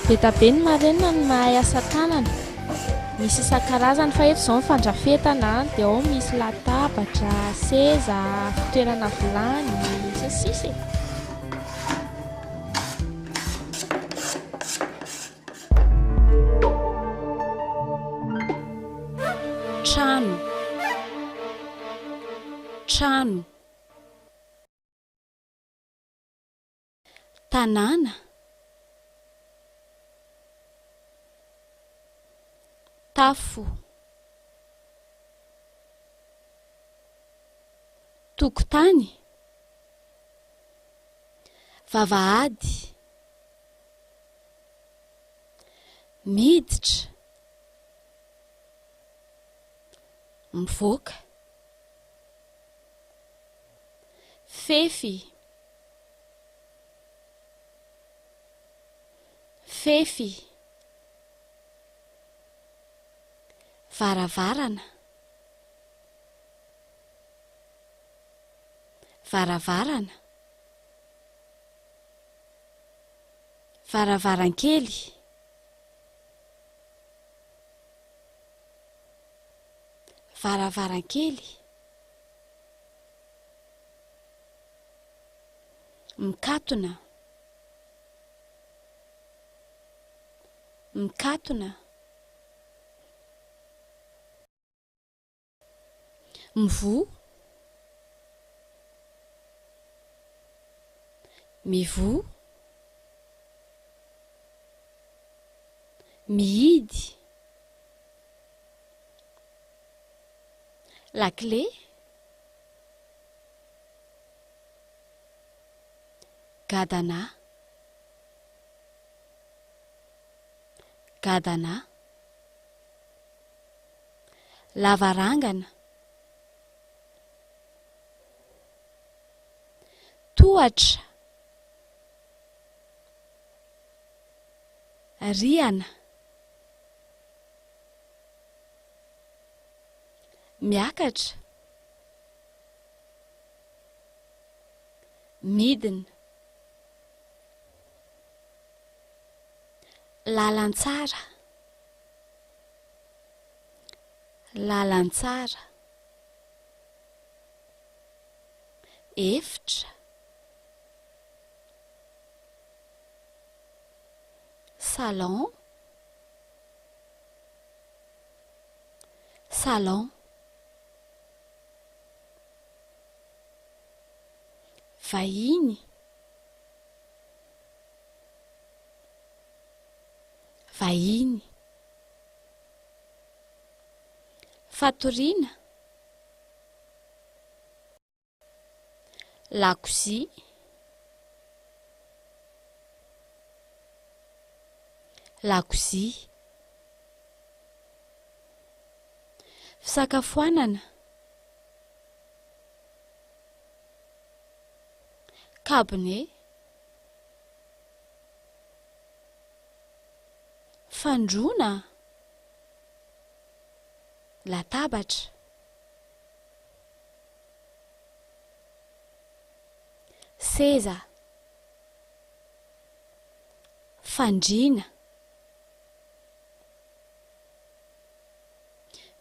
Vita be ny marenina ny mahay asa tanana. Misy isan-karazany fa eto izao ny fandrafetana dia ao misy latabatra, seza, fitoerana vilany, sy ny sisa e. Trano Trano Tanàna Tafo Tokotany Vavahady Miditra. Mivoaka. Fefy. Fefy. Varavarana. Varavarana. Varavarankely. Varavarankely. Mikatona. Mikatona. Mivoha, mivoha, mihidy, lakile, gadana, gadana. lavarangana, tohatra, rihana, miakatra, midina, lalantsara. Lalantsara, efitra, salon, salon, vahiny, vahiny. Fatoriana lakozia lakozia Fisakafoanana kabone. Fandroana latabatra. Seza. Fandriana.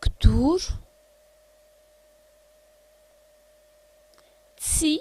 Kidoro. Tsihy.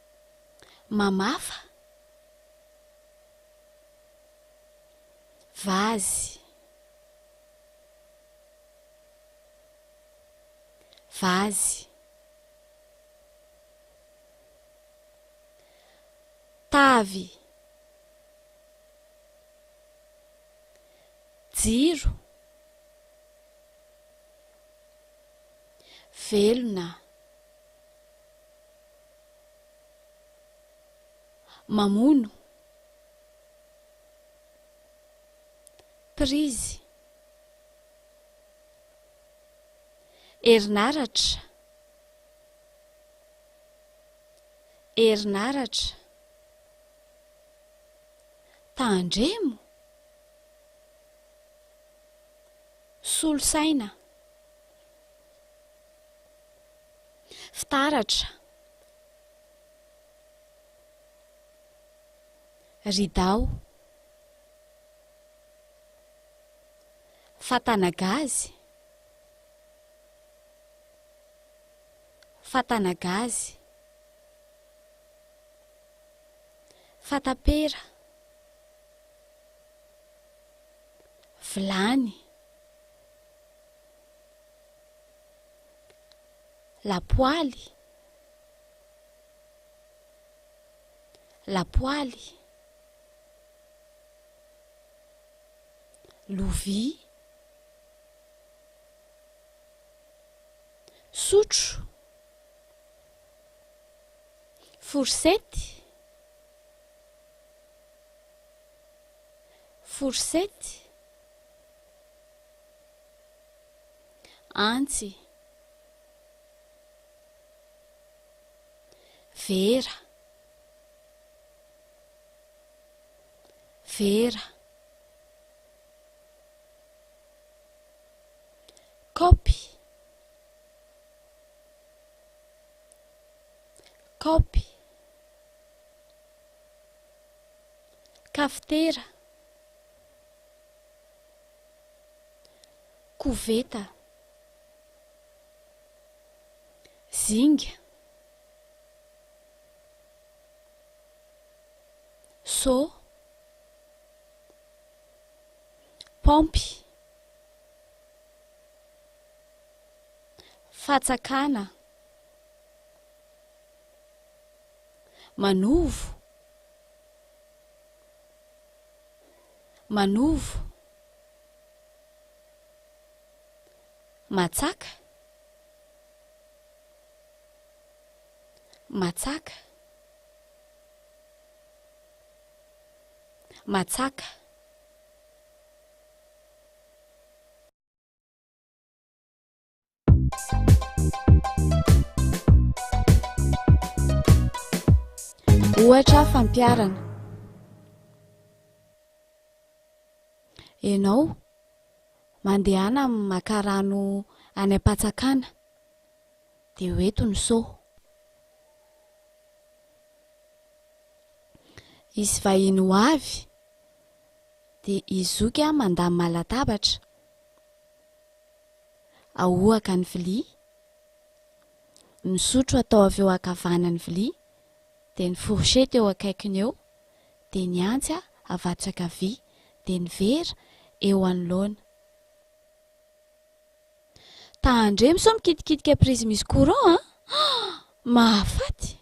Mamafa vazy vazy Tavy jiro velona Mamono. Prise. Herinaratra. Herinaratra. Tandremo. Solosaina. Fitaratra, ridao, fatana gazy, fatana gazy, fatapera, vilany, Lapoaly Lapoaly Lovia Sotro Forsety Forsety antsy, vera, vera, kaopy, kaopy, kafitera. Koveta. Zinga. Seau. Paompy. Fatsakana. Manovo. Manovo Matsaka Matsaka Matsaka Ohatra fampiarana. Enao mandehana amin'ny maka rano any am-patsakana dia ho eto ny so. Hisy vahiny ho avy dia izoky mandamina latabatra. Ahoaka ny vilia, ny sotro atao avy eo akavana ny vilia dia ny fourchette eo akaikiny eo dia ny antsa avadika akavia dia ny vera eo anoloana. Tahandremo sao mikitikitika prise misy courant a! Mahafaty!